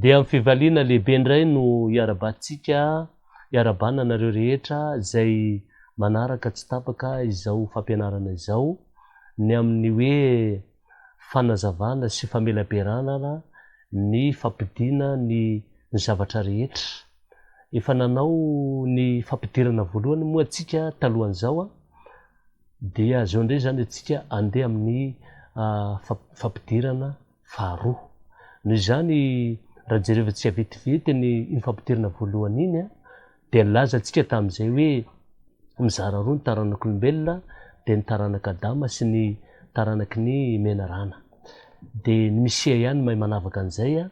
Dia amin'ny fivaliana lehibe indray no iarahabantsika, iarahabana anareo rehetra izay manaraka tsy tapaka izao fampianarana izao, ny amin'ny hoe fanazavana sy famelaberanana ny fampidirana ny ny zavatra rehetra. Efa nanao ny fampidirana voalohany moa tsika talohan'izao an! Dia zao indray izany atsika andeha amin'ny fampidirana. faharoa. Noho izany, raha jerevantsika vetivety ny iny fampidirana voalohany iny, dia nilazantsika tamin'izay hoe mizara roa ny taranak'olombelona, dia ny taranak'i Adama sy ny taranaky ny menarana. Dia ny Misia ihany no mahay manavaka an'izay,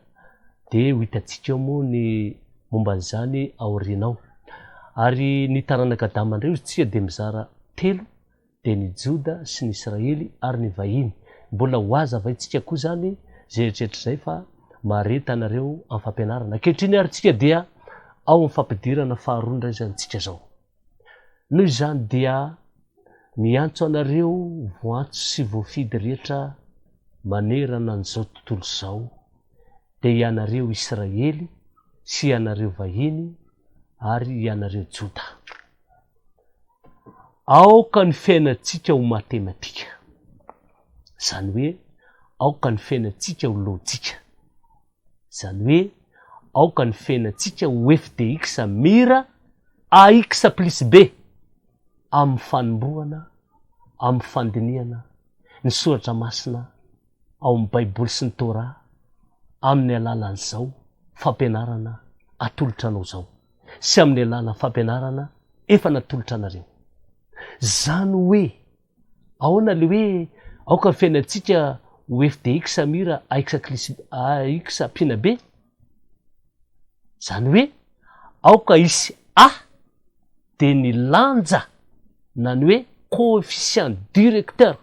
dia ho hitantsika eo moa ny momba an'izany aoriana ao. Ary ny taranak'i Adama indray hoy isika dia mizara telo. dia ny Joda sy ny Israely ary ny vahiny, mbola ho aza avaintsika koa izany izay eritreritra izay fa mareta anareo amin'ny fampianarana. Ankehitriny ary isika dia ao amin'ny fampidirana faharoa indray izany isika izao. Noho izany dia miantso anareo voantso sy voafidy rehetra manerana an'izao tontolo izao, dia ianareo Israely sy ianareo vahiny ary ianareo Joda. Aoka ny fiainantsika ho matematika. Izany hoe, aoka ny fiainantsika ho lojika. Izany hoe, aoka ny fiainantsika ho f de x mir ax plus b amin'ny fanombohana, amin'ny fandinihana ny soratra masina ao amin'ny Baiboly sy ny Torah amin'ny alalan'izao fampianarana atolotra anao izao. sy amin'ny alalan'ny fampianarana efa natolotra anareo. Izany hoe ahoana ilay hoe aoka ny fiainantsika ho fdx mira ax clis ax pina be? Izany hoe aoka hisy a dia ny lanja na ny hoe coefficient directeur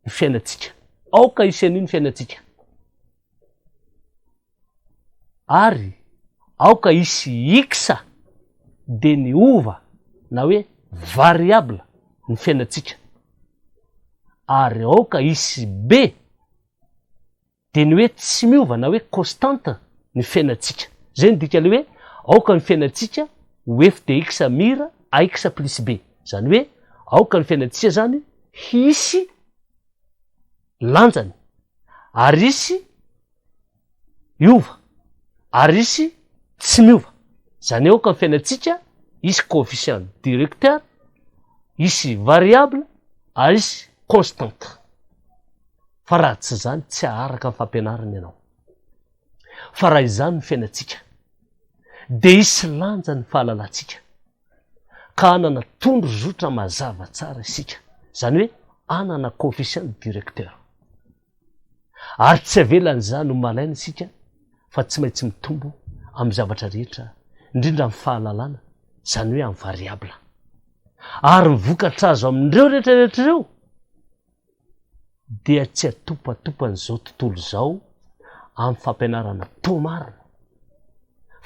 ny fiainantsika. Aoka hisy an'io ny fiainantsika. Ary aoka hisy X dia niova na hoe variable ny fiainantsika. Ary aoka hisy B dia ny hoe tsy miova na hoe constante ny fiainantsika. Izay no dikan'ilay hoe aoka ny fiainantsika ho F dia X mir AX plus B. Izany hoe aoka ny fiainantsika izany hisy. lanjany ary hisy hiova ary hisy tsy miova. Izany hoe aoka ny fiainantsika hisy coefficient directeur, hisy variable ary hisy constante. Fa raha tsy izany tsy haharaka ny fampianarana ianao. Fa raha izany ny fiainantsika dia hisy lanjany ny fahalalantsika. ka hanana tondrozotra mazava tsara isika, izany hoe hanana coefficient directeur. Ary tsy avelan'izany ho malaina isika fa tsy maintsy mitombo amin'ny zavatra rehetra, indrindra amin'ny fahalalana, izany hoe amin'ny variable. Ary ny vokatra azo amin'ireo rehetra rehetra ireo, dia tsy atopatopan'izao tontolo izao amin'ny fampianarana tao marina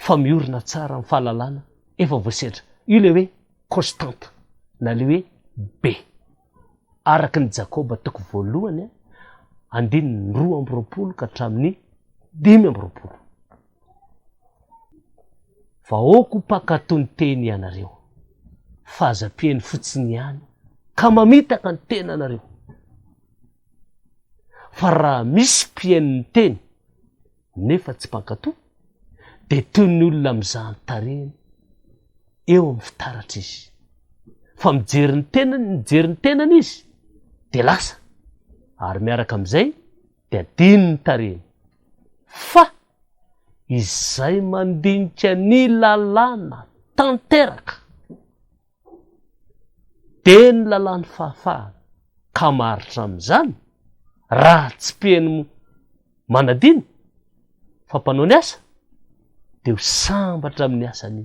fa miorina tsara amin'ny fahalalana efa voasedra. Io ilay hoe constante na ilay hoe B. Araka ny Jakoba toko voalohany andininy roa amby roapolo ka hatramin'ny dimy amby roapolo. Vahoako mpankatò ny teny ianareo, fa aza ampiany fotsiny ihany ka mamitaka ny tenanareo. Fa raha misy mpihaino ny teny nefa tsy mpankatò, dia toy ny olona mizaha ny tarehiny eo amin'ny fitaratra izy. Fa mijery ny tenany, mijery ny tenany izy, dia lasa. Ary miaraka amin'izay, dia adino ny tarehiny. Fa izay mandinika ny lalàna tanteraka dia ny lalàn'ny fahafahana ka maharitra amin'izany raha tsy mpiheno manadino fa mpanao ny asa dia ho sambatra amin'ny asany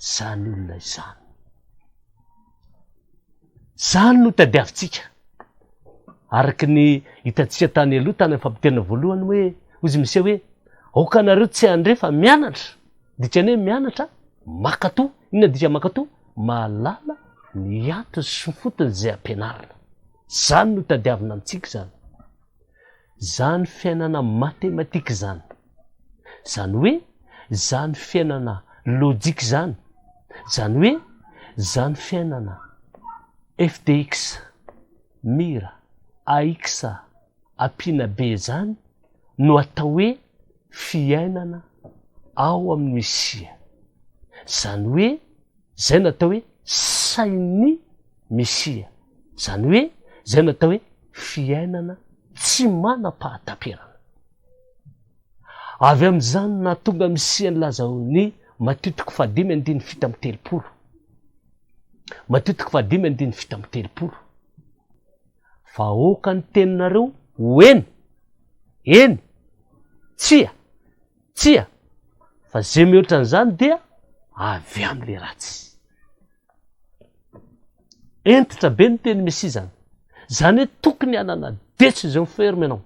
izany olona izany. Izany no tadiavintsika. Araka ny hitantsika tany aloha, tany amin'ny fampiterina voalohany hoe, hoy izy Misia hoe, Aoka anareo tsy handre fa mianatra. Dikany hoe mianatra, makatò. Inona dika makatò? Mahalala ny antony sy ny fotony izay ampianarina. Izany no tadiavina amintsika izany. Izany fiainana matematika izany, izany hoe izany fiainana lojika izany, izany hoe izany fiainana fdx, mir, ax ampiana be izany no atao hoe fiainana ao amin'ny sia. Izany hoe. Izay no atao hoe sain'ny Mesia, izany hoe izay no atao hoe fiainana tsy manam-pahataperana. Avy amin'izany no nahatonga Mesia nilaza ao amin'ny Matio toko fahadimy andininy fito amby telopolo. Matio toko fahadimy andininy fito amby telopolo. Fa aoka ny teninareo ho eny, eny, tsia, Tsia, fa ze mihoatra an'izany dia avy amin'le ratsy. Hentitra be ny teny Mesia izany. Izany hoe tokony hanana detso izao ferme ianao.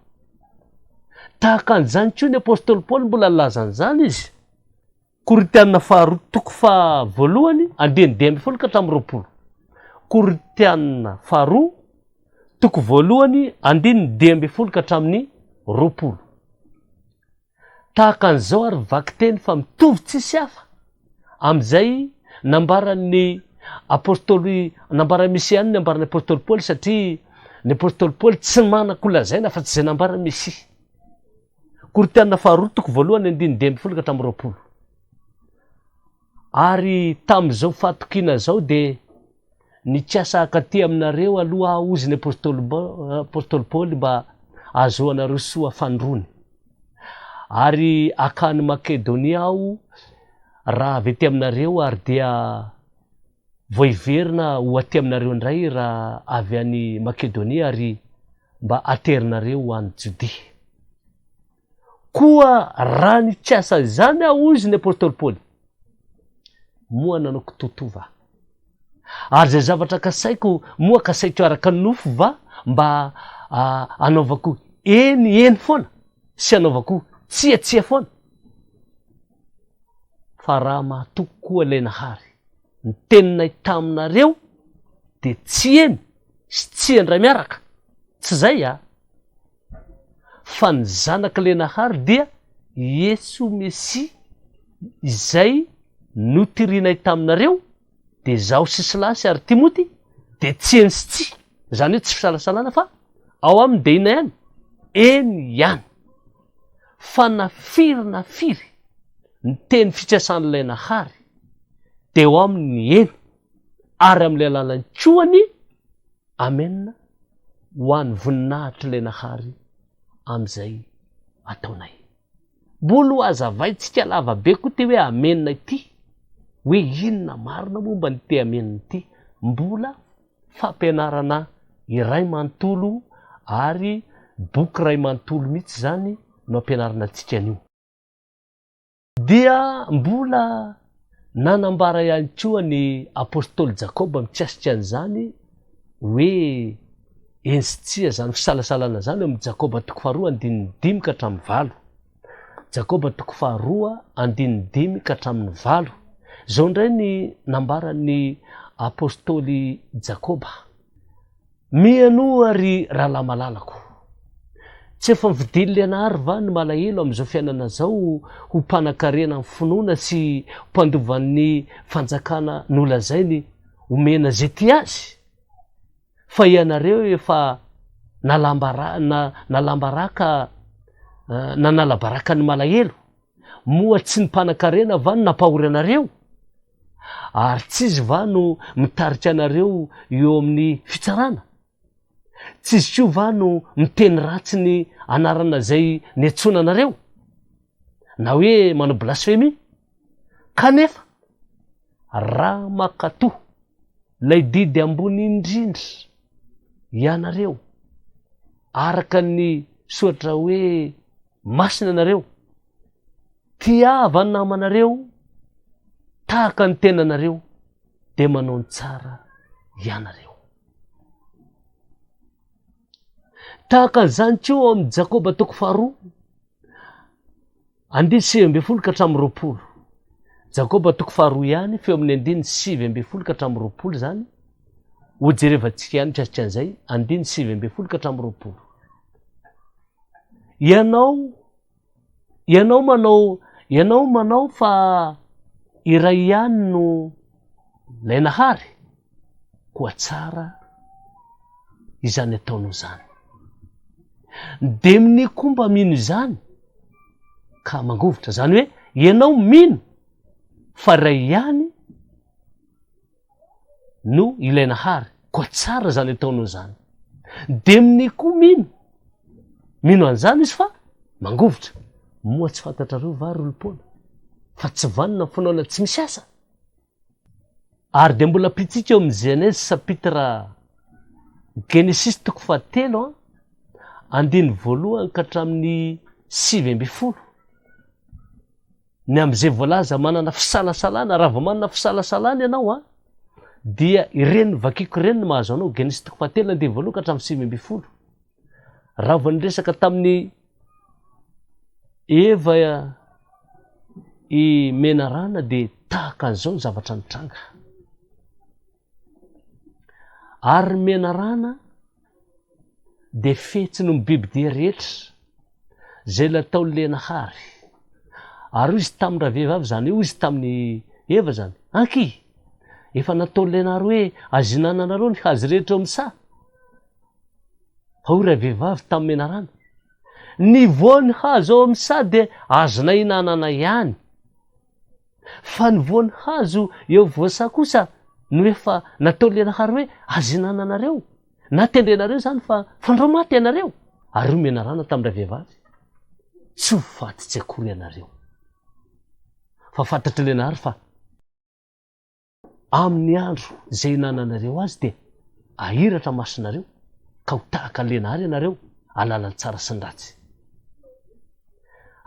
Tahaka an'izany koa ny apostoly Paoly mbola nilaza an'izany izy. Korintiana faharoa toko fahavoalohany andininy dimy ambin'ny folo ka hatramin'ny roapolo. Korintiana faharoa toko voalohany andininy dimy ambin'ny folo ka hatramin'ny roapolo. Tahaka an'izao ary ny vakiteny fa mitovy tsisy hafa amin'izay nambaran'ny apostoly nambaran'ny Mesia ny nambaran'ny apostoly Paoly satria ny apostoly Paoly tsy manan-kolazaina afa-tsy izay nambaran'ny Mesia. Korintiana faharoa toko voalohany andininy dimy ambin'ny folo ka hatramin'ny roapolo. Ary tamin'izao fahatokiana izao dia nikasa hankaty aminareo aloha aho, hozy ny apostoly Paoly, mba hahazoanareo soa fanirony. Ary hankany Makedonia aho raha avy aty aminareo, ary dia vao hiverina ho aty aminareo indray raha avy any Makedonia, ary mba haterinareo ho any Jodia. Koa raha nikasa izany aho, hoy izy ny apostoly Paoly, moa nanao kitoto va? Ary izay zavatra kasaiko, moa kasaiko araka ny nofo va? Mba hanaovako eny eny foana sy hanaovako tsia tsia foana? Fa raha mahatoky koa ilay Nahary, ny teninay taminareo dia tsy eny sy tsia indray miaraka, tsy izay a? fa ny Zanak'i Lenahary dia i Iesoa Mesia izay notirianay taminareo, dia izaho sy Silasy ary Timoty dia tsy eny sy tsy, izany hoe tsy fisalasalana fa ao aminy dia inona ihany? eny ihany. Fa na firy na firy ny teny fikasan'i Lenahary dia ao aminy ny eny, ary amin'ilay alalan'ny koa ny Amen ho any voninahitr lenahary amzay ataonay. Mbola ho azavaintsika lava be koa ty hoe amen ity hoe inona marina momba ny ty amen ty. Mbola fampianarana iray mantolo ary boky ray mantolo mitsy zany no ampianarina antsika anio. Dia mbola nanambara ihany koa ny apostoly Jakoba mikasika an'izany hoe, Eny sy tsia izany fisalasalana izany eo amin'ny Jakoba toko faharoa andininy dimy ka hatramin'ny valo. Jakoba toko faharoa andininy dimy ka hatramin'ny valo. Izao indray ny nambaran'ny apostoly Jakoba. Mianoa ry rahalahy malalako. Tsy efa vidin'i Lianary va ny malahelo amin'izao fiainana izao ho mpanakarena ny finoana sy mpandovan'ny fanjakana nolazainy omena izay tia azy? Fa ianareo efa nalambaraka nanala baraka ny malahelo. Moa tsy ny mpanan-karena va no nampahory anareo? Ary tsy izy va no mitarika anareo eo amin'ny fitsarana? Tsy izy koa va no miteny ratsy ny anarana izay niantsoana anareo? Na hoe manao blasfemia? Kanefa, raha mankatò ilay didy ambony indrindra ianareo, araka ny soratra hoe, Masina ianareo. Tiava ny namanareo tahaka ny tenanareo dia manao ny tsara ianareo. Tahaka an'izany koa ao amin'ny Jakoba toko faharoa, andininy sivy ambin'ny folo ka hatramin'ny roapolo. Jakoba toko faharoa ihany, feo amin'ny andininy sivy ambin'ny folo ka hatramin'ny roapolo izany, hojerevantsika ihany mikasika an'izay, andininy sivy ambin'ny folo ka hatramin'ny roapolo. Ianao, ianao manao, ianao manao fa iray ihany no lay Nahary? Koa tsara izany ataonao izany. Ny demony koa mba mino izany ka mangovitra. Izany hoe ianao mino fa iray ihany no ilay nahary koa tsara zany ataonao zany de mne koa mino mino anzany izy fa mangovitra moa tsy fantatrareo va ry olom-poana fa tsy vanona ny finoana tsy misy asa ary de mbola pitsika eo amin'ny genèse sapitra genesis toko fa telo an andiny voalohany ka hatramin'ny sivy amby folo ny amin'izay voalaza manana fisalasalana, raha vao manana fisalasalana ianao an, dia ireny vakiko ireny no mahazo anao, Genesy toko fahatelo na dia voaloha ka hatramin'ny sivy ambin'ny folo. Raha vao niresaka tamin'ny Eva i Menarana dia tahaka an'izao ny zavatra nitranga. Ary ny menarana dia fihetsiny ny bibidia rehetra, izay nataon'i Lenahary. Ary hoy izy tamin-dravehivavy izany, hoy izy tamin'i Eva izany, Anky! Efa nataon'i Lenahary hoe azo ihinananareo ny hazo rehetra eo amin'ny saha. Fa hoy ravehivavy tamin'ny menarana, Ny voan'ny hazo ao amin'ny saha dia azonay ihinanana ihany. Fa ny voan'ny hazo eo voasà kosa no efa nataolianahary hoe azo hinananareo, na tendrenareo izany fa fandrao maty ianareo, ary hoy menarana tamin'ilay vehivavy, tsy ho faty tsy akory ianareo, fa fantatr'Ilay Nahary fa. Amin' ny andro izay hinananareo azy dia hahiratra masonareo, ka ho tahaka lena àry ianareo, hahalala ny tsara sy ny ratsy.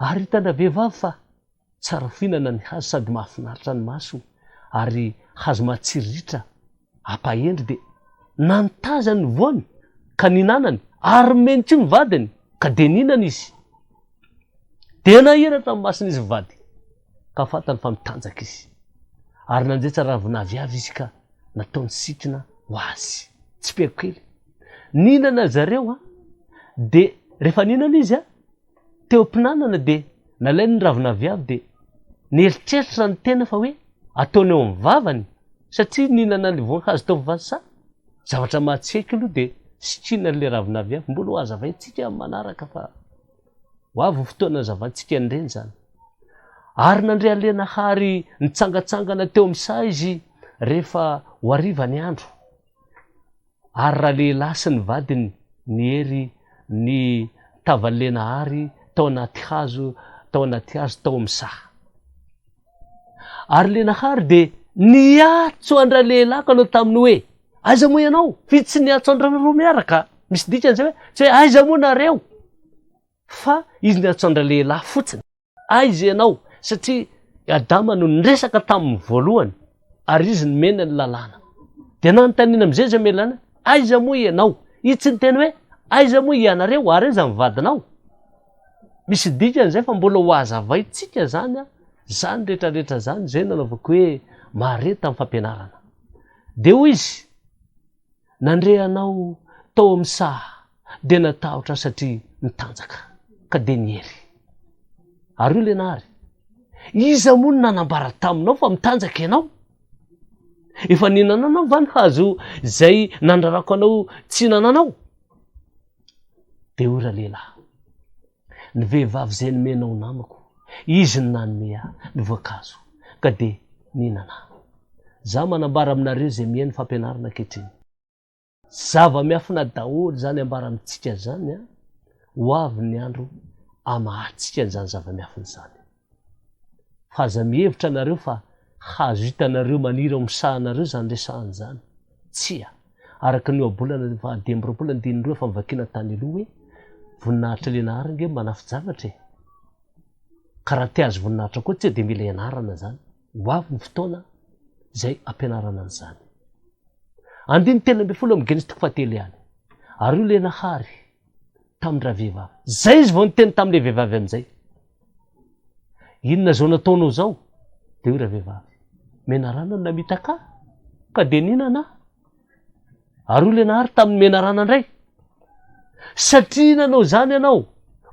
Ary hitandra vehivavy fa tsara fihinana ny hazo sady mahafinaritra ny maso, ary hazo matsiro ritra, hampahendry, dia nantazany ny voany, ka nihinanany, ary nomeny koa ny vadiny, ka dia nihinana izy. Dia nahiratra ny masony izy mivady. ka fantany fa mitanjaka izy. Ary nanjaitra ravin'aviavy izy ka nataony sitina ho azy. Tsipihako kely. Nihinana zareo, dia rehefa nihinana izy, teo am-pinanana dia nalainy ny ravin'aviavy dia nieritreritra ny tena fa hoe ataony eo amin'ny vavany satria nihinana an'ilay voankazo tao Vasa. Zavatra mahatsiaiko aloha dia sitrina an'ilay ravin'aviavy. Mbola ho hazavaintsika amin'ny manaraka fa. Ho avy ny fotoana nazavantsika an'ireny izany. Ary nandre alena hary nitsangantsangana teo amin'ny saha izy rehefa ho hariva ny andro. Ary ralehilahy sy ny vadiny niery ny tavan'i Lena hary tao anaty hazo tao anaty hazo tao amin'ny saha. Ary le Nahary dia niatso an-dRalehilako aloha taminy hoe, aiza moa ianao? F'izy tsy niatso an-dRareo roa miaraka. Misy dikany izay hoe, tsy hoe aiza moa nareo? Fa izy niatso an-dRalehilahy fotsiny. Aiza ianao? Satria i Adama no niresaka taminy voalohany ary izy nomena ny lalàna. Dia nanontaniana amin'izay izy mamelana, aiza moa ianao? Izy tsy niteny hoe, aiza moa ianareo? Ary aiza ny vadinao? Misy dikany izay fa mbola ho hazavaintsika izany an, izany rehetra rehetra izany izay nanaovako hoe Maria tamin'ny fampianarana. Dia hoy izy, Nandre anao tao amin'ny saha dia natahotra aho satria nitanjaka, ka dia niery. Ary hoy ilay nahary, Iza moa no nanambara taminao fa mitanjaka ianao? Efa nihinana anao va ny hazo izay nandrarako anao tsy hihinana anao? Deo ralehilahy. Ny vehivavy zay nomena ho namako, izy no nanome ahy ny voankazo ka dia nihinana aho. Za manambara aminareo izay mihaino fampianarana ankehitriny. Zava-miafina daholo izany ambara amintsika izany an! Ho avy ny andro hamahantsika an'izany zava-miafina izany. Fa aza mihevitra nareo fa hazo hitanareo maniry ao amin'ny sahanareo izany resahana izany. Tsia. Araka ny ohabolana ny faha dimy amby roapolo andininy roa efa novakiana tany aloha hoe, Voninahitry le Nahary ange manafijavatra e! Ka raha te-hahazo voninahitra koa tsia dia mila ianarana izany. Ho avy ny fotoana izay ampianarana an'izany. Andininy telo ambin'ny folo amin'ny Genesy toko fahatelo ihany. Ary hoy le Nahary tamin-dravehivavy, Izay izy vao niteny tamin'ilay vehivavy an'izay. Inona zao nataonao zao? Dia hoy ravehivavy, menarana no namitaka ahy, ka dia nihinana aho. Ary hoy ilay nahary tamin'ny menarana indray, satria nanao izany ianao,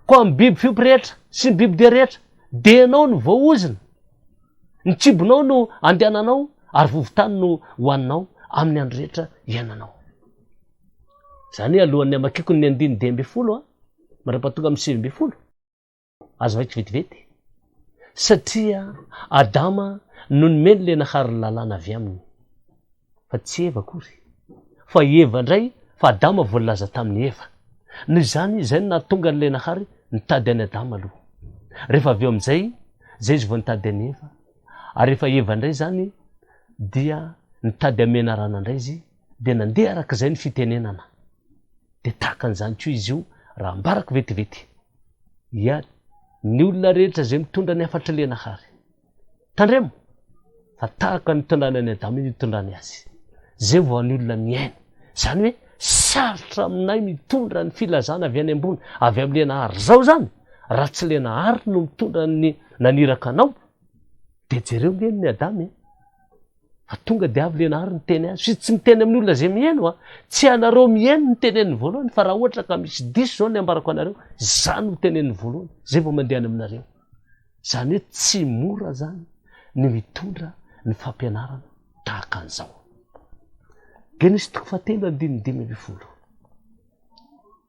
koa amin'ny biby fiompy rehetra sy ny bibidia rehetra, dia ianao no voaozona. Ny kibonao no andehananao, ary vovon-tany no hohaninao amin'ny andro rehetra iainanao. Izany alohan'ny hamakiako ny andininy dimy ambin'ny folo, mandra-pahatonga amin'ny sivy ambin'ny folo. Azo vaiko vetivety, satria Adama no nomeny ilay nahary ny lalàna avy Aminy, fa tsy Eva akory, fa i Eva indray, fa Adama voalaza tamin'i Eva. Noho izany, izay no nahatonga an'ilay nahary nitady an'i Adama aloha. Rehefa avy eo amin'izay, izay izy vao nitady an'i Eva. Ary rehefa Eva indray izany, dia nitady an'i Menarana indray izy, dia nandeha araka izay ny fitenenana. Dia tahaka an'izany koa izy io, raha ambarako vetivety. ihany ny olona rehetra izay mitondra ny hafatr'i Lenahary. Tandremo fa tahaka ny tondrana an'i Adama izy itondrany azy. Izay vao ny olona miaina. Izany hoe sarotra aminay mitondra ny filazana avy any ambony, avy amin'i Lenahary. Izao izany, raha tsy Lenahary no mitondra ny naniraka anao, dia jereo ve ny Adama e? Fa tonga dia avy ilay nahary niteny azy. F'izy tsy miteny amin'ny olona izay miheno a. Tsy ianareo miheno no teneniny voalohany fa raha ohatra ka misy diso izao ny ambarako anareo, izaho no teneniny voalohany, izay vao mandeha any aminareo. Izany hoe tsy mora izany ny mitondra ny fampianarana tahaka an'izao. Genesy toko fahatelo andininy dimy ambin'ny folo.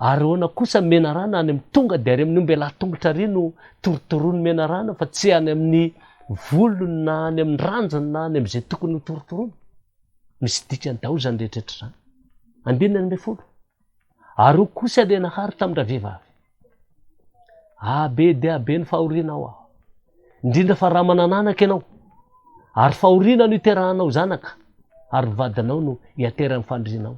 Ary ahoana kosa ny menarana any amin'ny tonga dia ary amin'ny omby lahy tongotra ary no torotoron'ny menarana fa tsy any amin'ny volony na any amin'ny ranjony na any amin'izay tokony ho torotorony? Misy dikany daholo izany rehetra izany. Andininy ambin'ny folo. Ary ho kosa dia nahary tamin-dravehivavy. Ah, be dia be ny fahoriana ao aho. Indrindra fa raha manana anaka ianao, ary fahoriana no iterahanao zanaka, ary vadinao no iaterahan'ny fandrianao.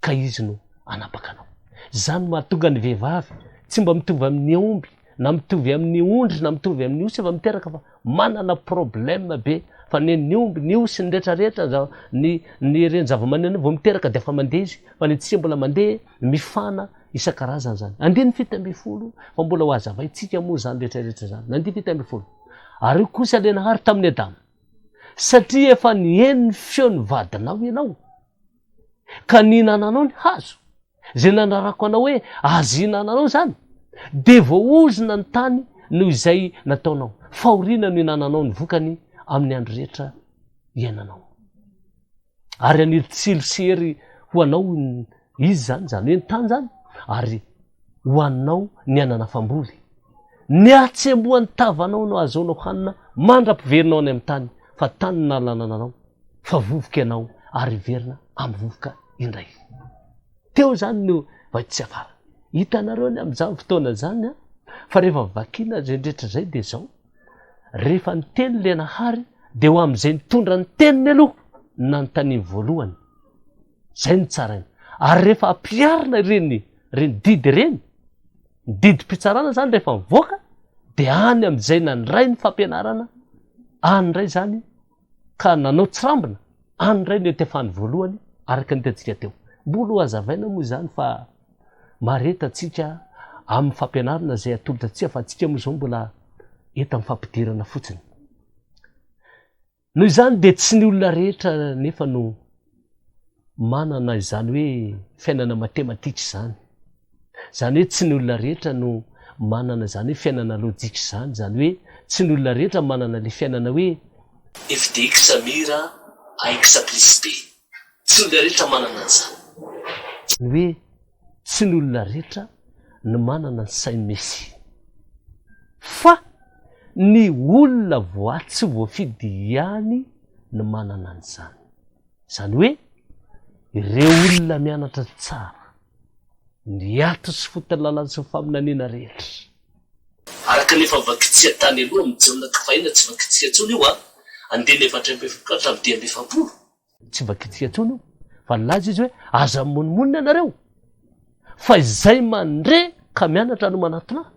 ka izy no hanapaka anao. Izany no mahatonga ny vehivavy tsy mba mitovy amin'ny omby na mitovy amin'ny ondry na mitovy amin'ny osy efa miteraka fa manana problème be fa ny an'ny omby, ny osy, ny rehetra rehetra ny zava, ny ny ireny zavamaneno vao miteraka dia efa mandeha izy fa ny tsy mbola mandeha mifana isan-karazany izany. Andininy fito ambin'ny folo fa mbola ho hazavaintsika moa izany rehetra rehetra izany. Ny andininy fito ambin'ny folo. Ary hoy kosa le Nahary tamin'i Adama, satria efa niheno ny feon'ny vadinao ianao, ka nihinananao ny hazo, izay nanarako anao hoe azo ihinananao izany, dia voaozona ny tany noho izay nataonao. Fahoriana no ihinananao ny vokany amin'ny andro rehetra iainanao. Ary haniry tsilo sy hery ho anao izy izany, izany hoe ny tany izany, ary ho anao ny aina nafam-boly. Ny hatsembohan'ny tavanao no ahazoanao hanina mandra-piverinao any amin'ny tany, fa tany no nalanana anao, fa vovoka ianao, ary hiverina amin'ny vovoka indray izy. Teo izany no vahiny tsy afara. Hitanareo ny amin'izany fotoana izany an? Fa rehefa vakina izay rehetra izay dia izao, rehefa niteny ilay Nahary dia ho amin'izay nitondra ny teniny aloha no nanontaniany voalohany. Zay no tsara iny. Ary rehefa ampiharina ireny ireny didy ireny, ny didim-pitsarana izany rehefa mivoaka, dia any amin'izay nandray ny fampianarana, any indray izany ka nanao tsirambina, any indray no iantefany voalohany, araka ny hitantsika teo. Mbola ho hazavaina moa izany fa mareta antsika amin'ny fampianarana izay atolotra antsika fa antsika moa izao mbola eto amin'ny fampidirana fotsiny. Noho izany dia tsy ny olona rehetra anefa no manana izany hoe fiainana matematika izany. Izany hoe tsy ny olona rehetra no manana izany hoe fiainana lojika izany. Izany hoe tsy ny olona rehetra manana ilay fiainana hoe F dia X mir a X plus B. Tsy ny olona rehetra manana an'izany. Izany hoe Tsy ny olona rehetra no manana ny sain'i Messi, fa ny olona voa tsy voafidy ihany no manana an'izany. Izany hoe, ireo olona mianatra tsara ny ato sy foton'ny lalàna sy ny faminaniana rehetra. Araka ny efa vakitsika tany aloha amin'ny Jaona ka fahiny tsy vakitsika intsony io a! Andininy avy hatrany am-pefapolo ka hatramin'ny dimy amby efapolo. Tsy mba kitia tony io fa nilaza izy hoe aza mimonomonona ianareo fa izay mandre ka mianatra no manatona ahy.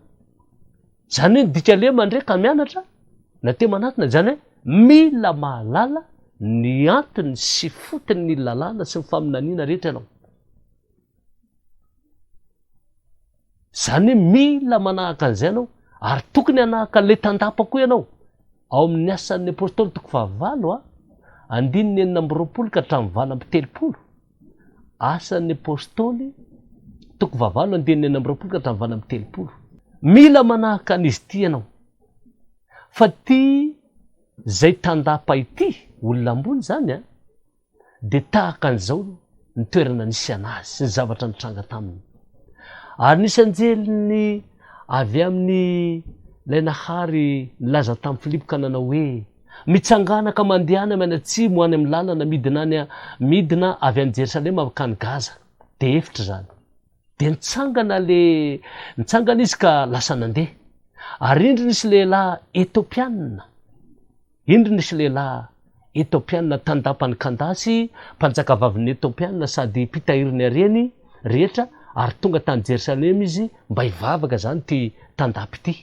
Izany hoe ny dikany hoe mandre ka mianatra na te manatona izany hoe mila mahalala ny antony sy fotony ny lalàna sy ny faminaniana rehetra ianao. Izany hoe mila manahaka an'izay ianao ary tokony hanahaka an'ilay tandapa koa ianao. Ao amin'ny Asan'ny Apôstôly toko fahavalo a, andininy enina amby roapolo ka hatramin'ny valo amby telopolo. Asan'ny Apôstôly toko fahavalo andininy enina amby roapolo ka hatramin'ny valo amby telopolo. Mila manahaka an'izy ity ianao. Fa ity izay tandapa ity, olona ambony izany a, dia tahaka an'izao ny toerana nisy an'azy sy ny zavatra nitranga taminy. Ary nisy anjeliny avy amin'ny ilay Nahary nilaza tamin'i Filipo ka nanao hoe, Mitsangàna ka mandehana maina atsimo any amin'ny làlana midina any midina avy any Jerosalema mankany Gaza. Dia efitra izany. Dia nitsangana le nitsangana izy ka lasa nandeha. Ary indro nisy lehilahy Etiopianina. Indro nisy lehilahy Etiopianina tandapan'i Kandasy, mpanjakavavin'ny Etiopianina sady mpitahirin'ny hareny rehetra, ary tonga tany Jerosalema izy mba hivavaka, izany ity tandapa ity.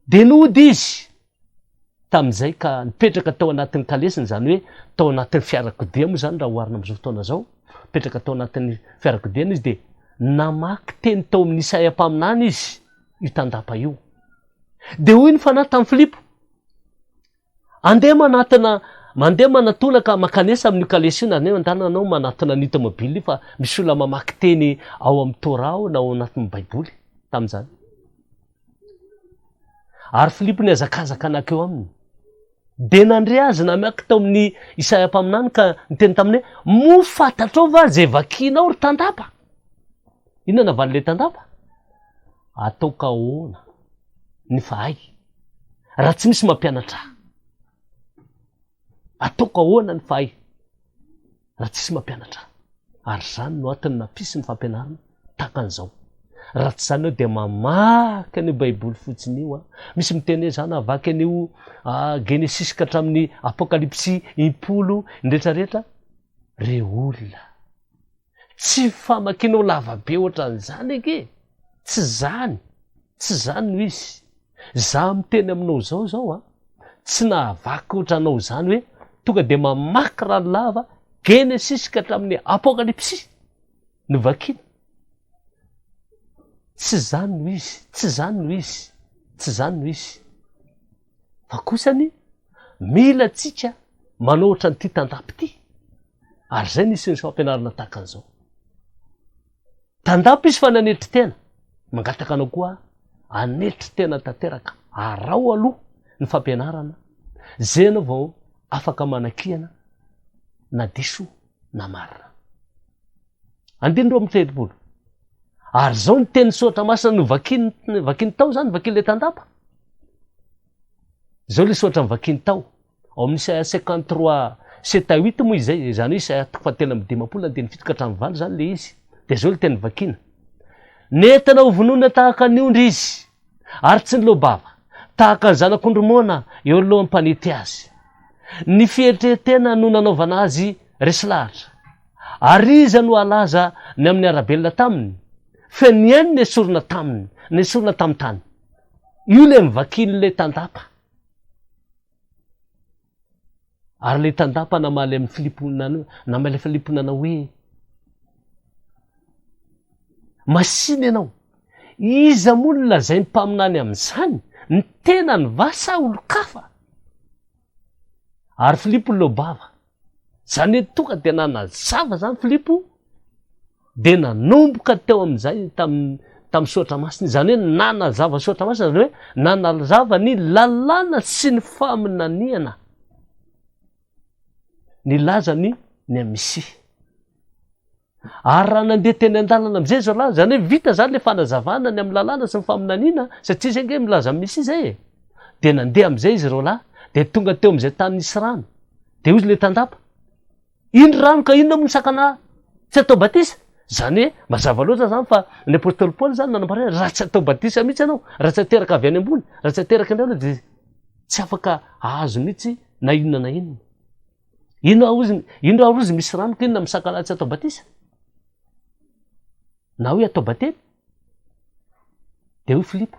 Dia nody izy. tamin'izay ka nipetraka tao anatin'ny kalesiny, izany hoe tao anatin'ny fiarakodia moa izany raha oharina amin'izao fotoana izao, nipetraka tao anatin'ny fiarakodiany izy dia namaky teny tao amin'ny Isaia mpaminany izy io tandapa io. Dia hoy ny fanahy tamin'i Filipo, andeha manatona mandeha manatona ka makanesa amin'io kalesy io na andeha mandalina anao manatona ny tomobile io fa misy olona mamaky teny ao amin'ny Torah ao na ao anatin'ny Baiboly tamin'izany. Ary Filipo nihazakazaka nankeo aminy. Dia nandre azy namaky tao amin'ny Isaia mpaminany ka niteny taminy hoe, Moa fantatrao va izay vakinao ry tandapa? Inona navalin'ilay tandapa? Ataoko ahoana ny fahay raha tsy misy mampianatra ahy? Ataoko ahoana ny fahay? raha tsisy mampianatra ary zany no atony nampisy ny fampianarana takan'izao raha tsy zany eo dia mamaky an'io baiboly fotsiny io a misy miteny hoe zany avaky an'io genesis ka hatramin'ny apokalypsy impolo indretrarehetra re olona tsy famakinao lavabe ohatran'izany ake tsy zany Tsy izany no izy. Izaho miteny aminao izao izao an, tsy nahavaky ohatra anao izany hoe tonga dia mamaky rano lava Genesisy ka hatramin'ny Apokalypsy no vakiana. Tsy izany no izy, tsy izany no izy, tsy izany no izy. Fa kosa ny mila antsika manao ohatra an'ity tandapo ity. Ary izay ny isan'ny fampianarana tahaka an'izao. Tandapa izy fa nanetry tena. Mangataka anao koa hanetry tena tanteraka. Araho aloha ny fampianarana, izay ianao vao afaka manakiana na diso na marina. Andininy roa amby telopolo. Ary izao ny tenin'ny soratra masina novakiany, vakiany tao izany, vakian'ilay tandapa. Izao ilay soratra novakiny tao, ao amin'ny Isaia cinquante trois sept à huit moa izay, izany hoe Isaia toko fahatelo amby dimampolo andininy fito ka hatramin'ny valo izany ilay izy. Dia izao ilay teny novakiny. Nentina ho vonoina tahaka ny ondry izy, ary tsy niloa-bava, tahaka ny zanak'ondry moana eo anoloan'ny mpanety azy. Ny fieritreretena no nanaovana azy resy lahatra. Ary iza no halaza ny amin'ny arabelona taminy? Fe ny ainy nesorina taminy, nesorina tamin'ny tany. Io le mivakin le tandapa. Ary le tandapa namaly am filiponana namaly filiponana hoe masina ianao. Iza moa no lazainy mpaminany amzany? Ny tenany va sa olon-kafa? Ary Filipo no leo bava. Izany hoe tonga dia nanazava izany Filipo, dia nanomboka teo amin'izay tamin'ny tamin'ny soratra masina. Izany hoe nanazava soratra masina, izany hoe nanazava ny lalàna sy ny faminaniana. Nilaza ny ny Misia. Ary raha nandeha teny an-dalana amin'izay izao lahy, izany hoe vita izany ilay fanazavana ny amin'ny lalàna sy ny faminaniana, satria izay ange milaza ny Mesia izay e! dia nandeha amin'izay izy ireo lahy, dia tonga teo amin'izay tany nisy rano, dia hozy ilay tandapa, Iny rano ka inona moa no sakana tsy atao batisa? Izany hoe mazava loatra izany fa ny apostoly Paoly izany nanambara hoe raha tsy atao batisa mihitsy ianao, raha tsy ateraka avy any ambony, raha tsy ateraka indray aloha dia tsy afaka hahazo mihitsy na inona na inona. Ino arozy, ino arozy misy rano ka inona misakala tsy atao batisa? Na hoe atao batemy? Dia hoy Filipo,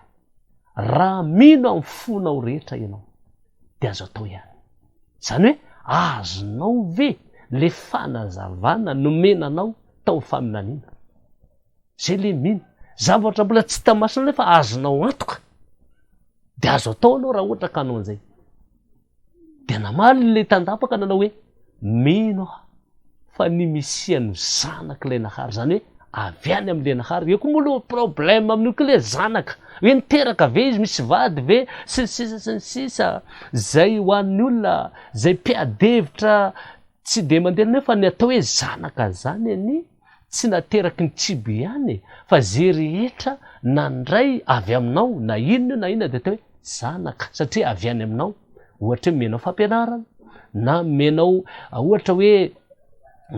raha mino amin'ny fonao rehetra ianao, dia azo atao ihany. Izany hoe, azonao ve le fanazavana nomena anao tao amin'ny faminaniana? Zay le mino. Zavatra mbola tsy hita masina nefa azonao antoka. Dia azo atao anao raha ohatra ka anao an'izay. Dia namaly ilay tandapa ka nanao hoe, Mino aho fa ny Mesia no Zanak'ilay Nahary, izany hoe avy any amin'ilay Nahary. Eo koa moa aloha problème amin'io koa ilay zanaka. Hoe niteraka ve izy, misy vady ve, sy ny sisa sy ny sisa. Izay ho an'ny olona izay mpiady hevitra tsy dia mandeha nefa ny atao hoe zanaka izany anie. Tsy nateraky ny kibo ihany e, fa ze rehetra nandray avy aminao na inona na inona dia atao hoe zanaka satria avy any aminao, ohatra hoe omenao fampianarana na omenao ohatra hoe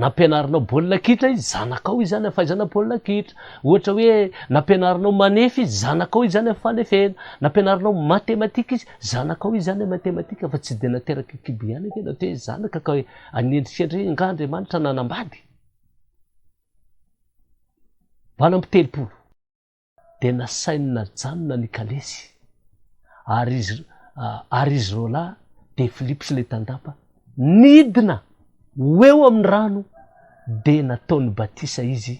nampianarinao baolina kitra izy, zanakao izy zany amin'ny fahaizana baolina kitra, ohatra hoe nampianarinao manefy izy, zanakao izy zany amin'ny fanefena, nampianarinao matematika izy, zanakao izy zany amin'ny matematika fa tsy dia nateraky kibo ihany anie na atao hoe zanaka ka hoe anendrikendry hoe ingahy Andriamanitra nanambady. Valo amby telopolo dia nasainy najanona ny kalesy ary izy ary izy roalahy dia Philippe sy ilay tandapa nidina ho eo amin'ny rano dia nataony batisa izy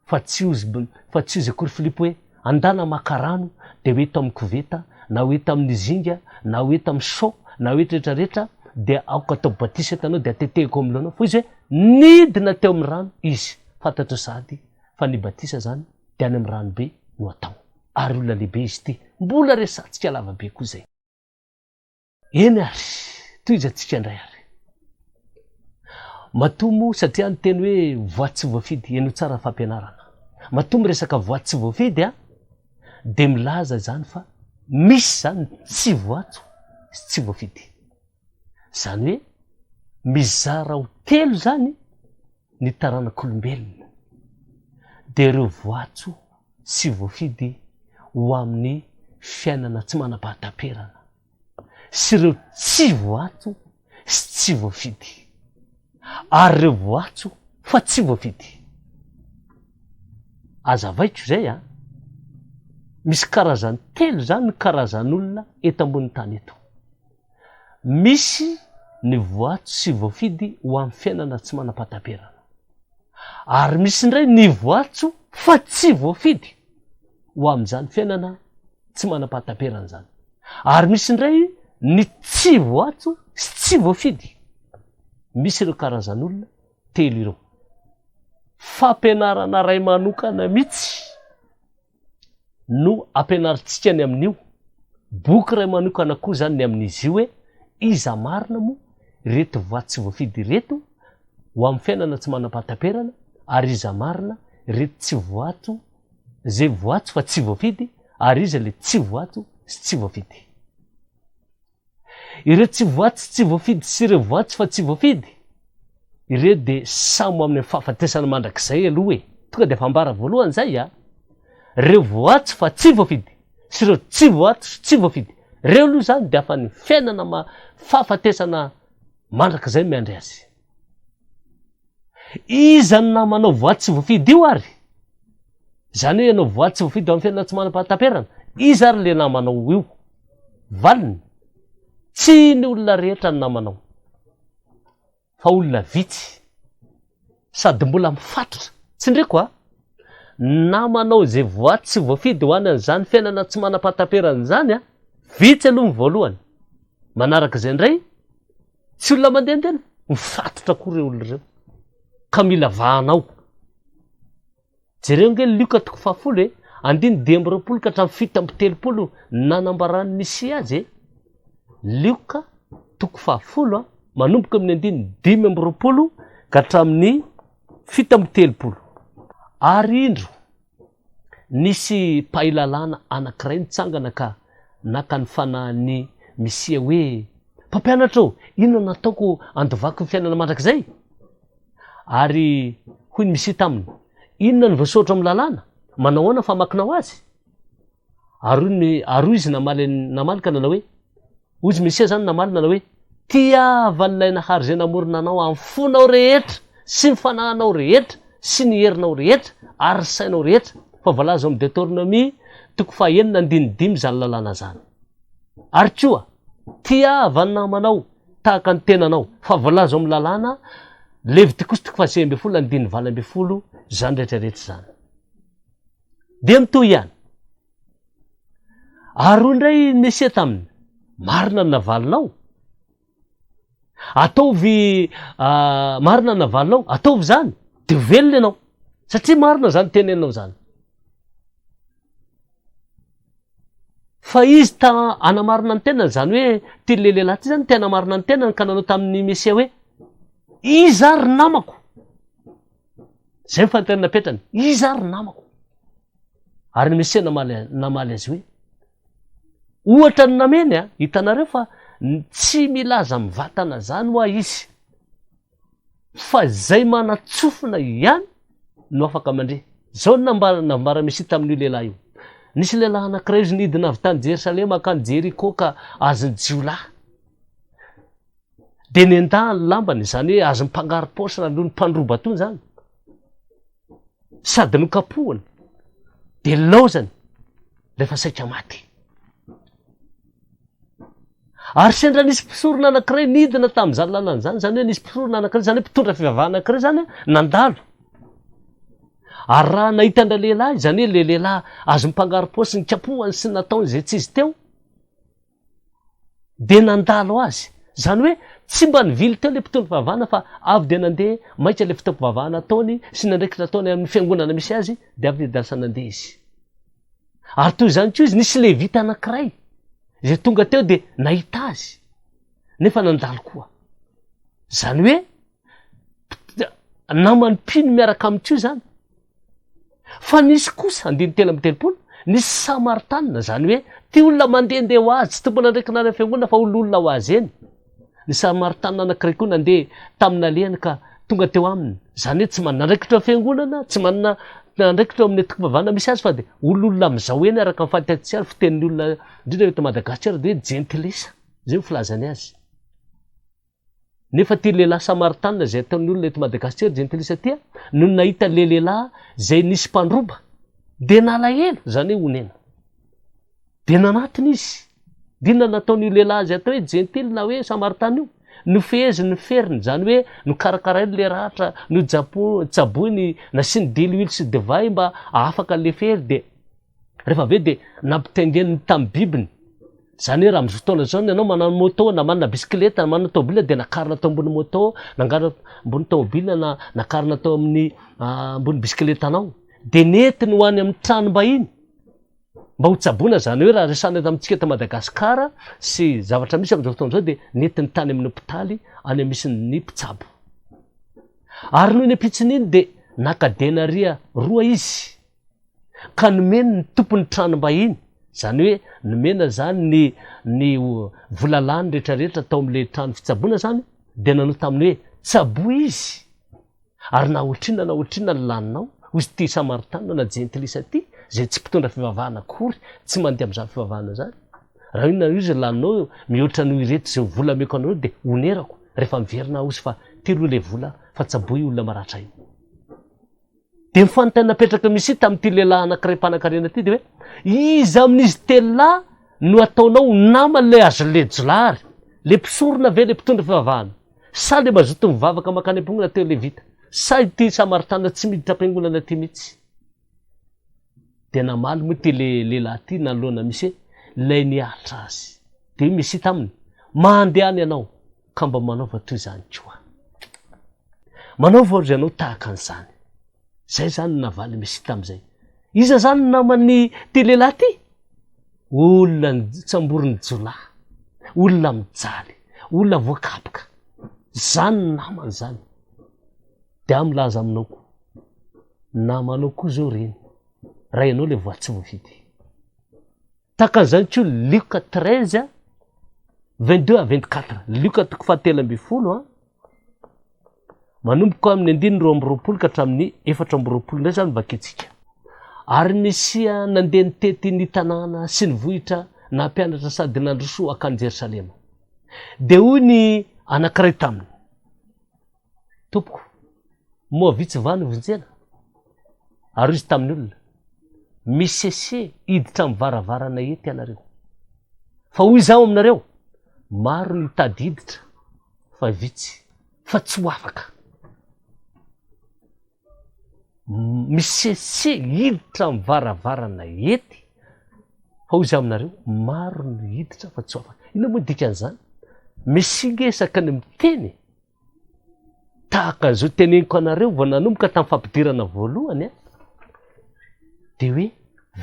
fa tsy ozy fa tsy ozy akory Philippe hoe Andana maka rano dia ho eto amin'ny koveta, na ho eto amin'ny zinga, na ho eto amin'ny seau, na ho eto rehetra rehetra, dia aoka atao batisa eto anao dia tetehiko amin'ny lohanao, fa izy hoe nidina teo amin'ny rano izy, fantatro sahady fa ny batisa izany dia any amin'ny rano be no atao, ary olona lehibe izy ity, mbola resantsika lava be koa izay. Eny ary, tohizantsika indray ary. Matoa moa, satria ny teny hoe voa tsy voafidy, henoy tsara ny fampianarana. Matoa miresaka voa tsy voafidy an, dia milaza izany fa misy izany ny tsy voatso sy tsy voafidy. Izany hoe mizara ho telo izany ny taranak'olombelona. Dia ireo voatso Tsy voafidy ho amin'ny fiainana tsy manam-pahataperana sy ireo tsy voatso sy tsy voafidy, ary ireo voatso fa tsy voafidy. Aza avaiko izay an! Misy karazany telo izany ny karazan'olona eto ambonin'ny tany eto. Misy ny voato sy voafidy ho amin'ny fiainana tsy manam-pahataperana. Ary misy indray ny voatso fa tsy voafidy ho amin'izany fiainana tsy manam-pahataperana izany. Ary misy indray ny tsy voatso sy tsy voafidy. Misy ireo karazan'olona telo ireo. Fampianarana iray manokana mihitsy. no ampianarintsika ny amin'io boky iray manokana koa izany ny amin'izy io hoe iza marina moa ireto vato tsy voafidy ireto ho amin'ny fiainana tsy manam-pahataperana ary iza marina ireto tsy voato izay voato fa tsy voafidy ary iza le tsy voato sy tsy voafidy. Ireo tsy voatsy tsy voafidy sy ireo voatsy fa tsy voafidy, ireo dia samy ho amin'ny fahafatesana mandrakizay aloha e! Tonga dia efa ambara voalohany izay a! Ireo voatsy fa tsy voafidy sy ireo tsy voatsy sy tsy voafidy, ireo aloha izany dia afa-ny fiainana ma-fahafatesana mandrakizay miandry azy. Iza no namana io voay tsy voafidy io ary? Izany hoe ianao voay tsy voafidy eo amin'ny fiainana tsy manam-pahataperana. Iza ary ilay namanao io? Valiny, tsy ny olona rehetra no namanao, fa olona vitsy, sady mbola mifatotra. Tsindriako an! Namanao izay voay tsy voafidy ho any an'izany fiainana tsy manam-pahataperana izany an! Vitsy aloha ny voalohany. Manaraka izay indray, Tsy olona mandehandeha no mifatotra koa ireo olona ireo ka mila vahanao. Jereo ange Lioka toko fahafolo e, andininy dimy amby roapolo ka hatramin'ny fito amby telopolo ny nanambaran'ny Mesia azy e. Lioka toko fahafolo manomboka amin'ny andininy dimy amby roapolo ka hatramin'ny fito amby telopolo. Ary indro, Nisy mpahay lalàna anankiray nitsangana ka naka ny fanahin'i Misia hoe, Mpampianatra ô, inona no ataoko handovako ny fiainana mandrakizay? Ary hoy ny Misia taminy, Inona no voasoratra ao amin'ny lalàna? Manao ahoana ny famakinao azy? Ary hoy izy namaly ka nanao hoe, Hoy izy Mesia izany namaly nanao hoe, Tiavan'ilay Nahary izay namorona anao amin'ny fonao rehetra sy ny fanahinao rehetra sy ny herinao rehetra ary ny sainao rehetra, fa voalaza ao amin'ny Detornomia toko fahenina andininy dimy izany lalàna izany. Ary koa, Tiava ny namanao tahaka ny tenanao, fa voalaza ao amin'ny lalàna, Levitikosy toko fahasivy ambin'ny folo andininy valo ambin'ny folo, izany rehetra rehetra izany. Dia mitohy ihany. ary hoy indray ny mesia taminy marina ny navalinao ataovy ah, marina ny navalinao ataovy zany de ho velona ianao satria marina zany tenenao zany fa izy ta anamarina ny tenany zany hoe ty le lehilahy ty zany tena marina ny tenany ka nanao tamin'ny mesia hoe iza ry namako zay ny fantenana petrany iza ry namako Ary ny Mesia namaly, namaly azy hoe, Ohatra ny nameny, a, hitanareo fa tsy milaza amin'ny vatana izany hoa izy, fa izay manatsofina ihany no afaka mandre. Izao no nambara, nambaran'ny Mesia tamin'io lehilahy io. Nisy lehilahy anankiray izy nidina avy tany Jerosalema hankany Jeriko ka azon'ny jiolahy. Dia nendahany lambany, izany hoe azon'ny mpangaro-paosy na aloha ny mpandroba tony izany. sady nokapohina dia nilaozany rehefa saika maty. Ary sendra nisy mpisorona anankiray nidina tamin'izany lalana izany, izany hoe nisy mpisorona anankiray, izany hoe mpitondra fivavahana anankiray izany nandalo. Ary raha nahita an'ilay lehilahy, izany hoe ilay lehilahy azo mpangarom-paosy nikapohany sy nataony izay tsy izy teo, dia nandalo azy. Izany hoe tsy mba nivily teo ilay mpitondra fivavahana fa avy dia nandeha maika ilay fotoam-pivavahana ataony sy ny andraikitra ataony amin'ny fiangonana misy azy dia avy niadansa nandeha izy. Ary toy izany koa izy nisy levita anankiray izay tonga teo dia nahita azy nefa nandalo koa. Izany hoe namany mpino miaraka amin'ity io zany fa nisy kosa andiny telo amby telopolo nisy samartana zany hoe ty olona mandehandeha ho azy tsy tompona andraikina any fiangonana fa ololona ho azy eny ny samartana anankiray koa nandeha tamina lehany ka tonga teo aminy zany hoe tsy manana andraikitra fiangonana tsy manana andraikitra amin'ny tokom-pivavahana misy azy fa dia ololona amin'izao eny araka ny fahatatsika ary fitenin'ny olona indrindra eto Madagasikara dia hoe jentilisa izay ny filazany azy Nefa ty lehilahy Samaritanina zay ataon'ny olona eto Madagascar jentilisa ty a, nony nahita le lehilahy zay nisy mpandroba de nalahelo, zany hoe onena. De nanatona izy. De inona nataon'io lehilahy azy atao hoe jentily na hoe Samaritana io? Nofeheziny ny feriny, zany hoe nokarakarainy le ratra, nojapo, tsaboiny, nasiany diloilo sy divay mba hahafaka le fery de. Rehefa avy eo dia nampitaingeniny tamin'ny bibiny. Izany hoe raha amin'izao fotoana izao ianao manana moto na manana bisikileta na manana tômôbila dia nakarina tao ambony moto, nangarina ambony tômôbila na nakarina tao amin'ny ambony bisikiletanao. Dia nentiny ho any amin'ny tranom-bahiny mba ho tsaboina. Izany hoe raha resahana eto amintsika eto Madagasikara sy zavatra misy amin'izao fotoana izao dia nentiny tany amin'ny hopitaly any misy ny mpitsabo. Ary noho ny ampitson'iny dia naka denariya roa izy. ka nomeny ny tompon'ny tranom-bahiny, izany hoe nomena izany ny ny vola lany rehetra rehetra tao amin'ilay trano fitsaboana izany dia nanao taminy hoe, Tsaboa izy, ary na ohatrinona na ohatrinona ny laninao, hoy ity Samaritanina na Jentilisa ity, izay tsy mpitondra fivavahana akory, tsy mandeha amin'izany fivavahana izany, raha inona na iza laninao mihoatra noho ireto izay vola omeko anareo dia honerako rehefa miverina aho, hozy fa telo ilay vola fa tsaboa io olona maratra io. Dia ny fanontaniana napetraka Mishit tamin'ity lehilahy anankiray mpanankarena ity dia hoe, Iza amin'izy telo lahy no ataonao ho naman'ilay Azlejla ary? Ilay mpisorona ve ilay mpitondra fivavahana? Sa ilay mazoto mivavaka mankany am-ponga na teo Levita? Sa ity Samaritana tsy miditra am-piangonana ity mihitsy? Dia namaly moa ity lehilahy ity nanoloana Mishit ilay nihatra azy. Dia hoy Mishit aminy, Mandehana ianao. ka mba manaova toy izany koa. Manaova ry ianao tahaka an'izany. Izay izany no navalin'i Messia tamin'izay. Iza izany ny naman'ity lehilahy ity? Olona nitsamborin'ny jiolahy, olona mijaly, olona voakapoka. Izany ny namany izany. Dia aho milaza aminao koa, namanao koa izao ireny, raha ianao ilay voatsingy fitia. Tahaka an'izany koa ny Lioka treize a, vingt deux à vingt quatre, Lioka toko fahatelo ambin'ny folo a, manomboka amin'ny andininy roa amby roapolo ka hatramin'ny efatra amby roapolo indray izany vakintsika. Ary Mesia nandeha nitety ny tanàna sy ny vohitra nampianatra sady nandroso hankany Jerosalema. Dia hoy ny anankiray taminy. Tompoko, moa vitsy va no vonjena? Ary izy tamin'ny olona, Misese hiditra amin'ny varavarana eto ianareo. Fa hoy izaho aminareo, Maro ny mitady hiditra, fa vitsy, fa tsy ho afaka. Misese hiditra amin'ny varavarana ety, fa hoy izaho aminareo, Maro ny hiditra, fa tsy ho afaka. Inona moa dikan'izany? Mesia nge isaka ny miteny, Tahaka an'izao teneniko anareo vao nanomboka tamin'ny fampidirana voalohany an, dia hoe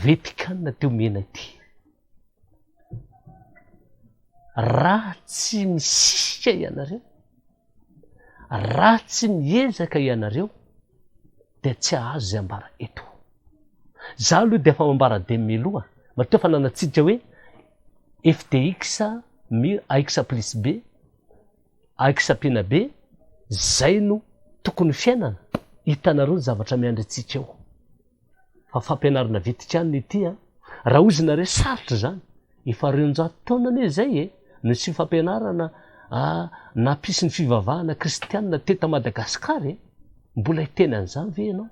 Vetican ity omena ity. Raha tsy misisika ianareo, raha tsy miezaka ianareo, dia tsy hahazo izay ambara eto. Za aloha dia efa mambara dia miloha, matoa efa nanatsidika hoe FTX, mur, AX plus B, Aky Sapina be, zay no tokony ho fiainana, hitanareo ny zavatra miandry antsika eo. Fa fampianarana vitika any ny ity a! Raha oizina re sarotra izany, efa reonjato taona anie izay e, no tsy fampianarana nampisy ny fivavahana kristianina teto a Madagascar e! Mbola hiteny an'izany ve ianao?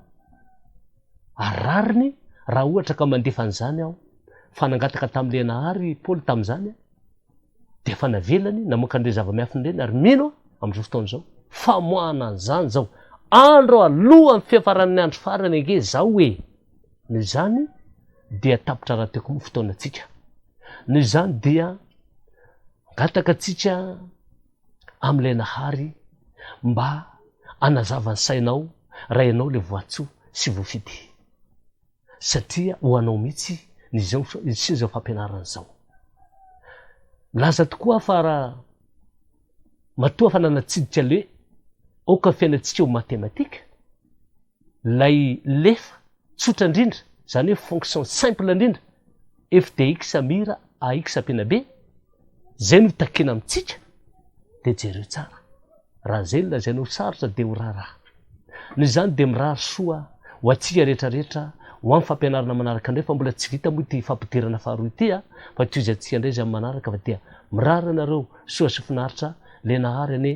Ary rariny raha ohatra ka mandefa an'izany aho, fa nangataka tamin'ilay Nahary i Paoly tamin'izany aho. dia efa navelany namoaka an'ireny zava-miafina ireny ary mino aho amin'izao fotoana izao famoahana an'izany izao andro alohan'ny fiafaran'ny andro farany ange izao hoe noho izany dia tapitra raha teko moa fotoanantsika noho izany dia angataka antsika amin'ilay nahary mba anazavany sainao raha ianao le voatsoa sy voafidy satria ho anao mihitsy izao sy izao fampianarana izao. Milaza tokoa aho fa raha matoa fa nanatsidika le aoka fiainantsika ho mathématique, ilay lefa tsotra indrindra, izany hoe fonction simple indrindra, FDX Mira AX Apenabe zay no takina amintsika dia jereo tsara raha zay no lazaina ho sarotra dia ho raharaha noho izany dia mirary soa ho antsika rehetra rehetra ho amin'ny fampianarana manaraka indray fa mbola tsy vita moa ity fampidirana faharoa ity a fa tohizantsika indray izay amin'ny manaraka fa dia mirary anareo soa sy finaritra le nahary anie